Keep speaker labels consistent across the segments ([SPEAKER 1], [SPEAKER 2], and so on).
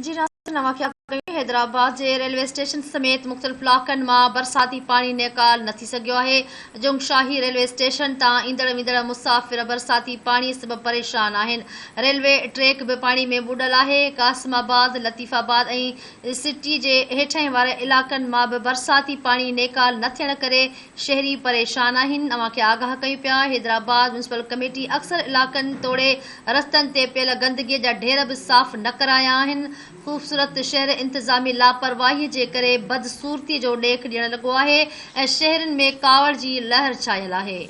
[SPEAKER 1] جي رياست نوان کي آگاهه ڪيو، حيدرآباد جي ريلوي اسٽيشن سميت مختلف علائقن مان برساتي پاڻي نيڪال نه ٿي سگهيو آهي، جنگ شاهي ريلوي اسٽيشن تان ايندڙ ويندڙ مسافر برساتي پاڻي سبب پريشان آهن، ريلوي ٽريڪ به پاڻي ۾ ٻڏل آهي، Qasimabad, Latifabad ۽ city جي هيٺاهين واري علائقن مان به برساتي پاڻي نيڪال نه ٿيڻ ڪري شهري پريشان آهن اوهان کي آگاهه ڪيون پيا حيدرآباد ميونسپل ڪميٽي اڪثر علائقن توڙي رستن تي پيل گندگي جا ڍير به صاف نه ڪرايا آهن خوبصورت شهر انتظامي لاپرواهي جي ڪري بدصورتي جو ڏيک ڏيڻ لڳو آهي ۽ شهرين ۾ ڪاوڙ جي لهر ڇانيل آهي.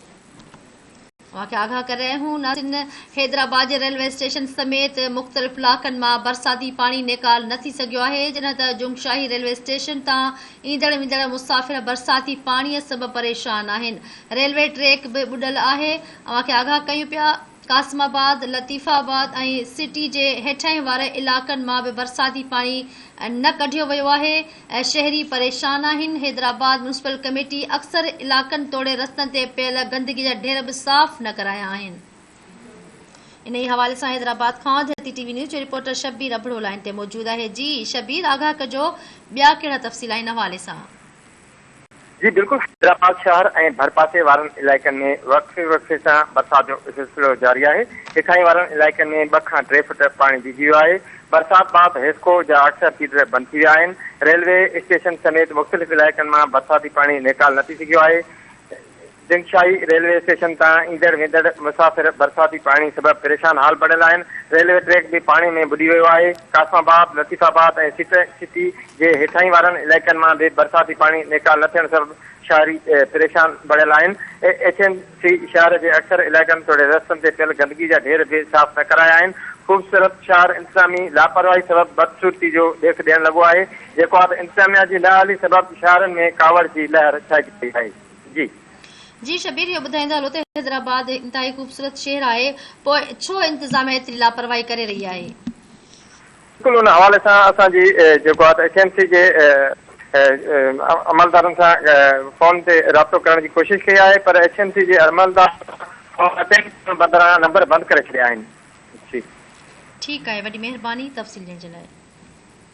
[SPEAKER 1] اوهان کي آگاهه ڪري رهيا آهيون ناسين حيدرآباد جي ريلوي اسٽيشن سميت مختلف علائقن مان برساتي پاڻي نيڪال نه ٿي سگهيو آهي جڏهن ته جومشاهي ريلوي اسٽيشن تان ايندڙ ويندڙ مسافر برساتي پاڻي سبب پريشان آهن ريلوي ٽريڪ به ٻڏل آهي اوهان کي آگاهه ڪيون پيا قاسم آباد لطيف آباد ۽ سٽي جي هيٺاهين واري علائقن مان به برساتي پاڻي نه ڪڍيو ويو آهي ۽ شهري پريشان آهن، حيدرآباد ميونسپل ڪميٽي اڪثر علائقن توڙي رستن تي پيل گندگي جا ڍير به صاف نه ڪرايا آهن. انهي حوالي سان حيدرآباد کان ڌرتي ٽي وي نيوز جو رپورٽر شبير ابڙو لائين تي موجود آهي جي شبير آگاهه ڪجو ٻيا ڪهڙا تفصيل آهن ان حوالي سان.
[SPEAKER 2] جي بلڪل حيدرآباد شهر ۽ ڀرپاسي وارن علائقن ۾ وقفي وقفي سان برسات جو سلسلو جاري آهي هيٺاهين وارن علائقن ۾ ٻه کان ٽي فٽ پاڻي بيهجي ويو آهي برسات بعد حيسڪو جا اڪثر فيڊر بند ٿي ويا آهن ريلوي اسٽيشن سميت مختلف علائقن مان برساتي پاڻي نيڪال نه ٿي سگهيو آهي جنگشاهي ريلوي اسٽيشن تان ايندڙ ويندڙ مسافر برساتي پاڻي سبب پريشان حال بڻيل آهن، ريلوي ٽريڪ به پاڻي ۾ ٻڏي ويو آهي، Qasimabad, Latifabad ۽ city city جي هيٺاهين وارن علائقن مان به برساتي پاڻي نيڪال نه ٿيڻ سبب شاهري پريشان بڻيل آهن، ايڇ ايم سي شاهر جي اڪثر علائقن توڙي رستن تي پيل گندگي جا ڍير به صاف نه ڪرايا آهن، خوبصورت شاهر انتظامي لاپرواهي سبب بدصورتي جو ڏيک ڏيڻ لڳو آهي، جيڪو آب انتظاميا جي نه اهلي سبب شاهرن ۾ ڪاوڙ جي لهر ڇائجي وئي آهي. جي. جي
[SPEAKER 1] شبير اهو ٻڌائيندا هلو ته حيدرآباد هڪ انتهائي خوبصورت شهر آهي پوء ڇو انتظاميا ايتري لاپرواهي ڪري رهي آهي. بلڪل
[SPEAKER 2] ان حوالي سان اسان جي جيڪو آهي ته ايڇ ايم سي جي عملدارن سان فون تي رابطو ڪرڻ جي ڪوشش ڪئي آهي پر ايڇ ايم سي جي عملدار فون اٽينڊ ڪرڻ بدران نمبر بند ڪري ڇڏيا آهن. جي.
[SPEAKER 1] ٺيڪ آهي وڏي مهرباني تفصيل ڏيڻ جي لاء.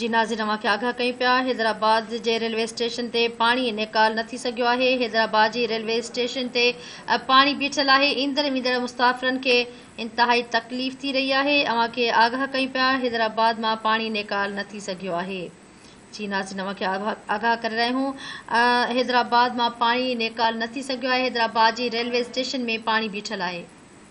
[SPEAKER 1] جي ناظرين اوهان کي آگاهه ڪيون پيا حيدرآباد جي ريلوي اسٽيشن تي پاڻي نيڪال نه ٿي سگهيو آهي حيدرآباد جي ريلوي اسٽيشن تي پاڻي بيٺل آهي ايندڙ ويندڙ مسافرن کي انتهائي تڪليف ٿي رهي آهي اوهان کي آگاهه ڪيون پيا حيدرآباد مان پاڻي نيڪال نه ٿي سگهيو آهي جي ناظرين اوهان کي آگاهه ڪري رهيا آهيون حيدرآباد مان پاڻي نيڪال نه ٿي سگهيو آهي حيدرآباد جي ريلوي اسٽيشن ۾ پاڻي بيٺل آهي